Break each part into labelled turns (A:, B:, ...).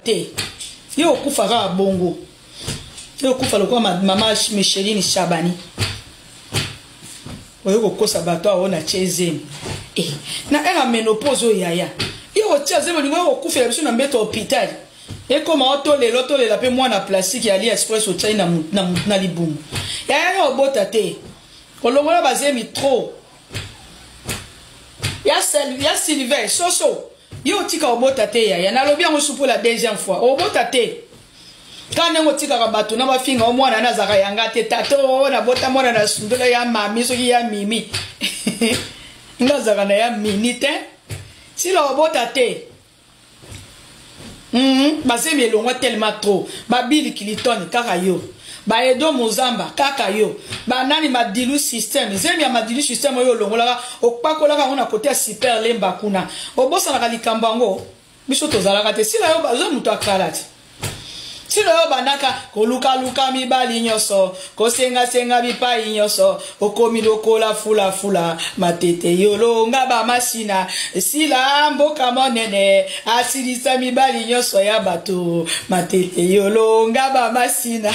A: te ye okufa kaka bongo ye okufa lokola mama micheline shabani oye kokosa bato awo na tie zemi e eh, na ere ya menopose oyo yaya ye otia zemi olingo okokufela biso na mbeto hôpital ekoma otolela otolela mpe mwana plastique ya ali express otiai na, na, na, na libumu yaya yo obota te olongola bazemi trop ya sel ya silver soso yo otika obota te yaya nalobi yango supu la deuxième fois obota te ka ndenge otikaka bato na bafinga o mwana na azaka yanga te tata o nabota mwana na sundola ya mami soki ya mimi nga azaka na ya mini te sila obota te Mm, bazemi elongwa telema tro babili kilitone kaka yo baedo mozamba kaka yo banani madilu systeme zemi ya madilu systeme oyo olongolaka opakolaka yango na kote ya super lemba kuna obosanaka likambo yango biso tozalaka te sila yo bazwa moto akalati nsino yo obandaka kolukaluka mibali nyonso kosengasenga bipai nyonso okomi lokola fulafula matete yolonga bamasina esila mboka monene asilisa mibali nyonso ya bato matete yolonga bamasina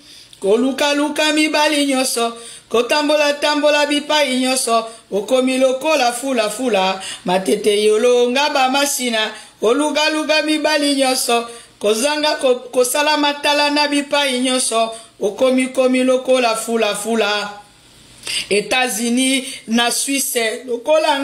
A: kolukaluka mibali nyonso kotambolatambola bipai nyonso okomi lokola fulafula matete yolonga bamasina olukaluka mibali nyonso kozanga ko, kosala matala na bipai nyonso okomikomi lokola fulafula etats-unis na swisse lokola